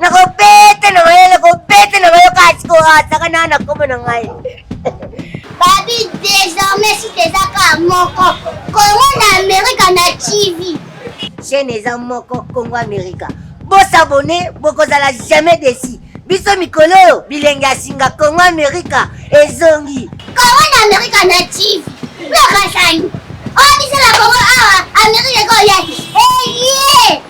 nakobete na mayele kobete na mayo kasi koataka na na kombo na ngai babi désormais si teza ka moko kongo na amerika na tv chaîne eza moko kongo amerika bosabone bokozala jamais desi biso mikolo oyo bilenge ya singa kongo amerika ezongi kongo na amerika na tv nakasani oyo biso na kongo awa amerika ekoya eye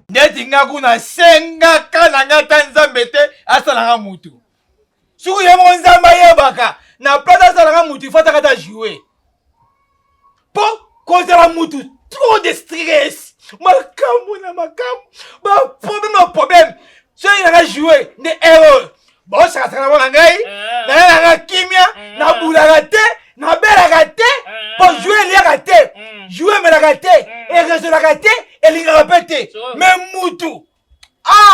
ndeti nga kuna sengaka na nga ata nzambe te asalaka mutu soki ye moko nzambe ayebaka na place asalaka mutu ifataka ata joue mpo kozala mutu trop de stress makambo na makambo baproblème na problème soki nanga joue nde erreur bosakasaka na mona ngai eh. nayelaka kimia eh. nabulaka te nabelaka te eh. mpo jue eliaka te mm. jue emelaka te mm. erezolaka te elingaka mpe te me mutu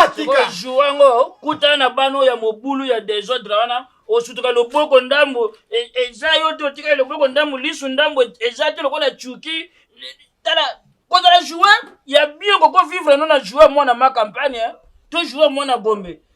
atika ah, jue yango kutana na bana oyo ya mobulu ya desordre wana osutuka loboko ndambo e, eza yo te otikali loboko ndambo lisu ndambo eza te lokola cuki tala kozala joueur ya bien koko vivre no na joueur mwana ma campagne to joueur mwana gombe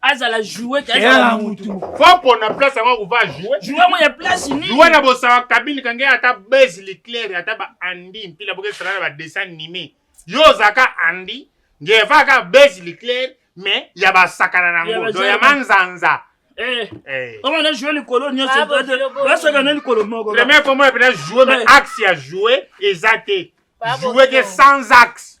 azala jouet azala mutu foko na place yango kuva jouet jouet yango ya place nini jouet na bosawa kabini kange ata base leclaire ata ba andi mpila boke sala ba dessin animé yo zaka andi nge vaka base leclaire mais ya ba sakana na ngo do ya manzanza eh. eh. omo na joue likolo nyonso basoka na likolo moko premier komona mpena joue mais eh. axe ya joue eza te joue ke sans axe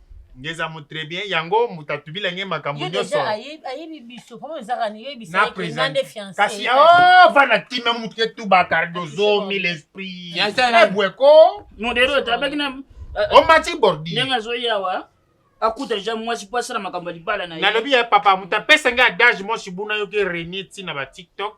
ngeza mu très bien yango moto atubila nge makambo nyonso ayebi biso po ezaka niyebisanga nde fiancé kasi oh vana tima moto ke tuba cardozo mille esprit ebweko modero etabaki na omati bordi ndenge azoya awa akuta ja mwasi po asala makambo ya libala na ye nalobi ya papa moto apesa ngai adage mosi buna yoki renie ntina ba tiktok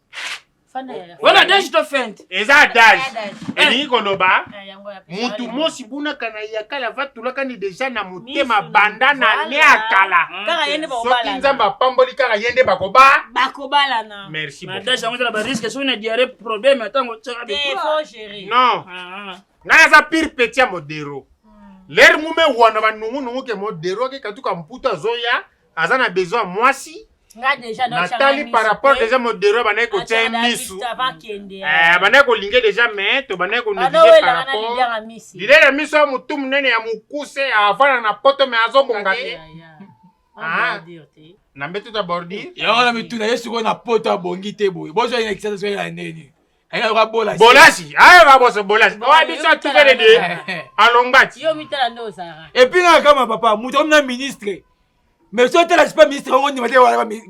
wana dage to fente eza dage elingi koloba mutu mosi bunaka na ya kala vatulakani deja na motema banda na ne ya kala soki nzambe apamboli kaka ye nde bakoba bakobalana merci dage yango ezala bariske soki na diare problème atango non ngai aza pire petit ya modero lere mume wana banungunungu ke modero akekatuka mputu azoya aza na besoin ya mwasi natali par rapport deja modero abandaki kotya ye misu eh, abandaki kolinge deja me tobandaki koneglige par rapport lilele ya miso ya motu monene ya mokuse avanda na poto me azobonga te ah. na mbeto ta bordir yango na mituna ye sikoyo na poto abongi te boye bozwa ye na kisasa soki ya ndeni bolasi ayoka boso bolasi owa biso atukele de alongati epuis nga kama papa moto omi na ministre mais soki otala sipa ministre yango ndima te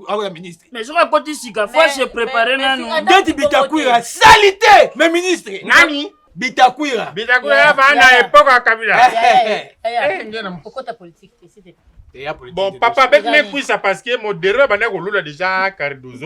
akoya ministre mais soki akoti sika fo se prépare nanu ndeti bitakwira sali te mais ministre nani bitakwira bitakwira baa na epoke ya kabila bon papa beti mekwisa parce que modero abandaki kolula déjà cardozo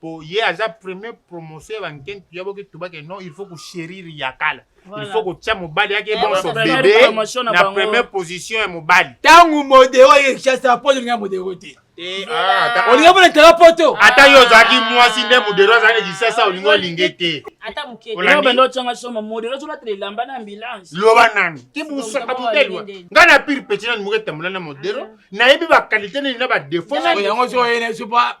po ye aza premier promotion ya banken tuya boke tubake non il faut kochérir ya kala il faut kotya mobali yake eh, bonso bebe na premier position ya mobali ntango modero ye kinshasa po olinga modero te eh, ah, olinga mpo na tala poto ata yo ozalaki mwasi nde modero azalaki kisasa olinga olinge te loba nani tibusaka butelwa ngai na pire peti nani moketambola na modero ah. nayebi bakalite nini na badefaut yango soyenesupa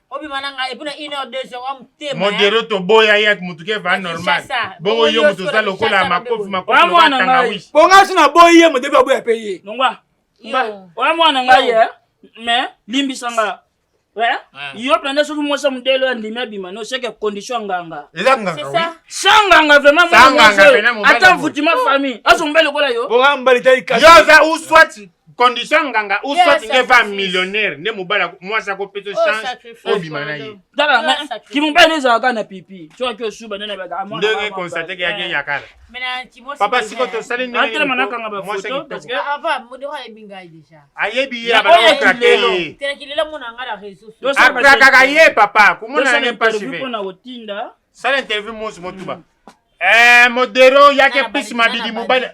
obima na ngai epona une heure deux heures wa motema modero toboya ye ati motuka eva normal bongo yo moto oza lokola makofi makofi lokola tangawishi bonga so naboyi ye modero aboya mpe ye nongwa oya mwana ngai ye mais limbisa nga yo mpenza soki mwasi ya modele oyo andimi abima no seke condition ya nganga eza nganga sa nganga vraimentata mvutima famille azongba lokola yo yo oza uswati condition nganga ou soit nge va millionnaire nde mobali mwasi akopesa oh, chance obima na ye kimobali ezalaka na pipi soki osuba nde nabakandenge constate ke yaki eyakala papa siko tosali ndeatelema nakanga bafoto ayebi ye abanaokrake ye akrakaka ye papa komona yange mpasi sala interview mosi motuba Eh, modero yake plus mabidi mobali.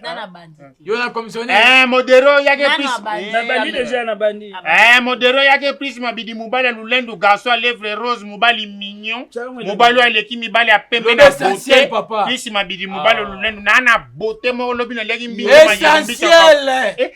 Yo na commissionnaire. Eh, modero yake plus. Na bandi déjà na bandi. Eh, modero yake plus mabidi mobali lulendu garçon à lèvres rose mobali mignon. Mobali aleki mibali ya pembe na beauté. Plus mabidi mobali ah. lulendu na na beauté moko lobi na leki mbinga. Essentiel. Eh,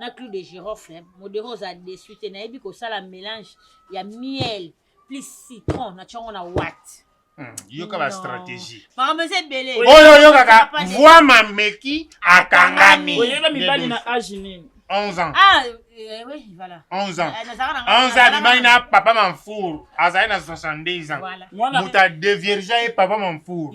na clou de girofle modero oza desu te nayebi kosala mélange ya miel plus citron na tiongo na wat hmm, yoka ba stratégie makambo eza ebele oyo oyokaka voi mameki akangami oyeba mibali na age nini 11 ans ah, eh, oui, voilà. 11 ans 11 eh, ans abimaki na papa manfour azali na 62 ans moto adeviergea ye papa manfour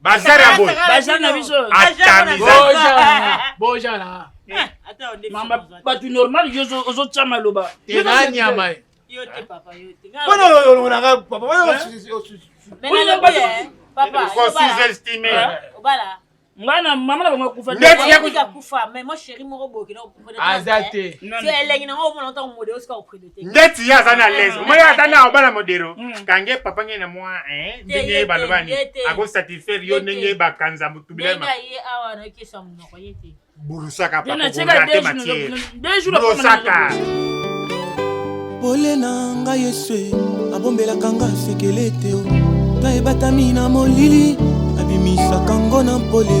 bazar ya boye bazar na biso bojana bato normal yo ozotya maloba eza nyama ye mpona olongonaka papa ngai na mama na bango akufa aza te elengi nango omona ntango modero sika opride te ndeti ye aza na ah, lese omoni ata na obala modero hmm. kange papa ngai na mwa eh, ndenge ye balobani akosatisfaire yo ndenge ye bakanza motubilema burusaka papakoate matiere burusaka pole na ngai yesu abombelaka nga sekele te ta ebatami na molili abimisaka ngo na mpole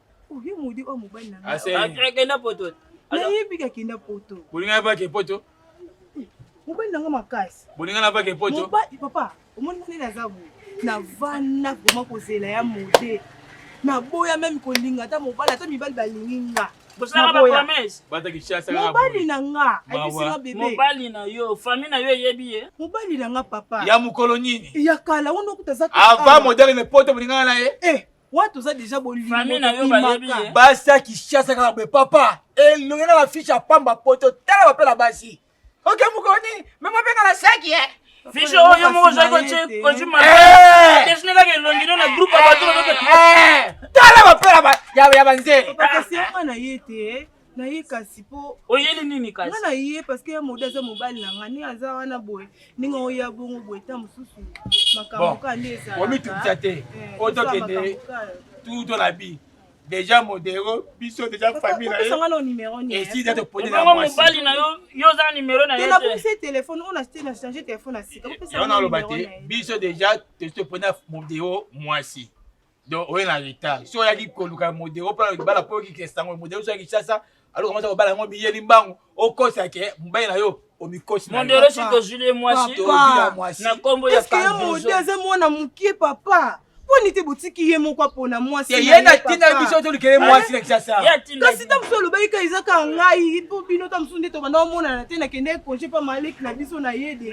oyo modi oyo mobali na ngakenda poto nayebi kakenda poto bolingana bake poto eh, mobali nanga makasi bolingana bake poto papa omoni ndenge aza boye navanda vraimen kozela ya mode naboya meme kolinga ata mobali ata mibali balingi nga mobali na nga ayebisinga bebemobali na yo fami na yo eyebi ye mobali na nga papa ya mokolo nini ya kala wana okuta za ava modele ne poto bolingana na ye eh. watu oza deja bolibasi ya kishasa kaka boye papa elongi na bafiche ya pamba poto tala bapela basi oke mokoni mema mpe na basaki e fiche oyo moko ozali kotimadesinelaka eh! eh! elongi no na groupe ya bato eh! tala bapela ya banzela na ye kasi po oyeli nini kasi nga na ye parce que ya mode aza mobali na nga ndenge aza wana boye ndenge oya bongo boye ta mosusu makambo ka nde ezalaomituta te eh, otokende tuto na bi deja modero biso deja famille na ye esi deja toponi na mwasi mobali na yo yo oza numero na ye na bokisi telefone oyo na na change telefone na sika yango naloba te biso deja tosi toponi na modero mwasi donc oye na retard so oyaki koluka modero mpo libala mpo oyoki kesango modero so ya kinshasa alo kamata kobala yango biyeli mbangu okosa ke mobali na yo omikosi mondero si tozwili ye mwasi na nkombo ya mode aza mwana mokie papa mponi te botiki ye moko apona mwasi ye na ntina ye biso tolikele mwasi na kisasa kasi ta mosusu olobaki ka eza ka ngai mpo bino ta mosusu nde tobanda omonana te nakendeki konje mpa maleki na biso na ye de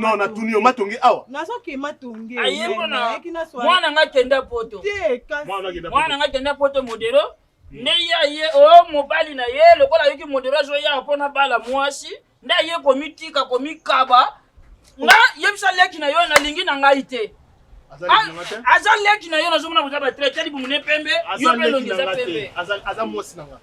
non natuni yo matonge awa mwana nga kenda poto mwana nga kenda poto modero hmm. nde ye aye o oh, mobali na ye lokola ayoki modero azoya mpo na bala mwasi nde aye komitika komikaba nga yebisa leki na yo nalingi na ngai te aza leki na yo nazomona boza batraite libumu ne pembe yo mpe elongi eza pembe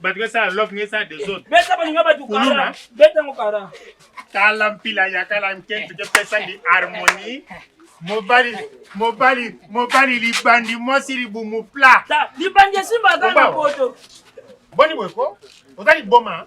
bato besala love nge esala desordre beta balinga bato kala beta ngo kara tala mpila ya kala nkentu kepesa ndi harmonie mobali mobali mobali libandi mwasi libumu pla libandi esimbaka na poto boni boye ko oza liboma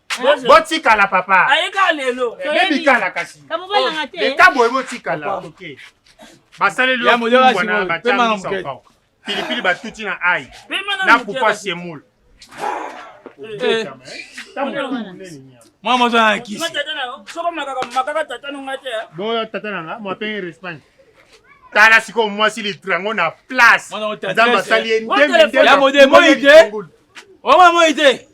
botikala papa ayeka lelo bebikala kasi leta boye botikala basaleli yowana batiamisaka pilipili batuti na ai na pupa semoule eh. mwa mozo na kisi boyo tata na nga mwapenge respagne tala sikoyo mwasi litre yango na place nzambe asali ye ndembe ndembe omama moi te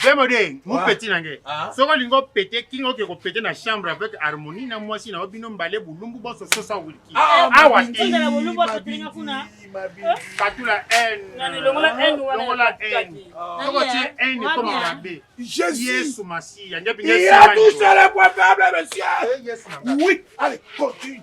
Vraiment de, mon petit nange. Ah. Soki olingi opete kinga oke kopete na chambre avec harmonie na mwasi na yo bino mbale bulumbu boso sosa wilki. Ah, ah, Awa te. Katula haine. Longola haine. Soko tie haine ekoma mabe. Yesu Masiya. Il y a tout ça le problème, monsieur. Oui, allez, continue.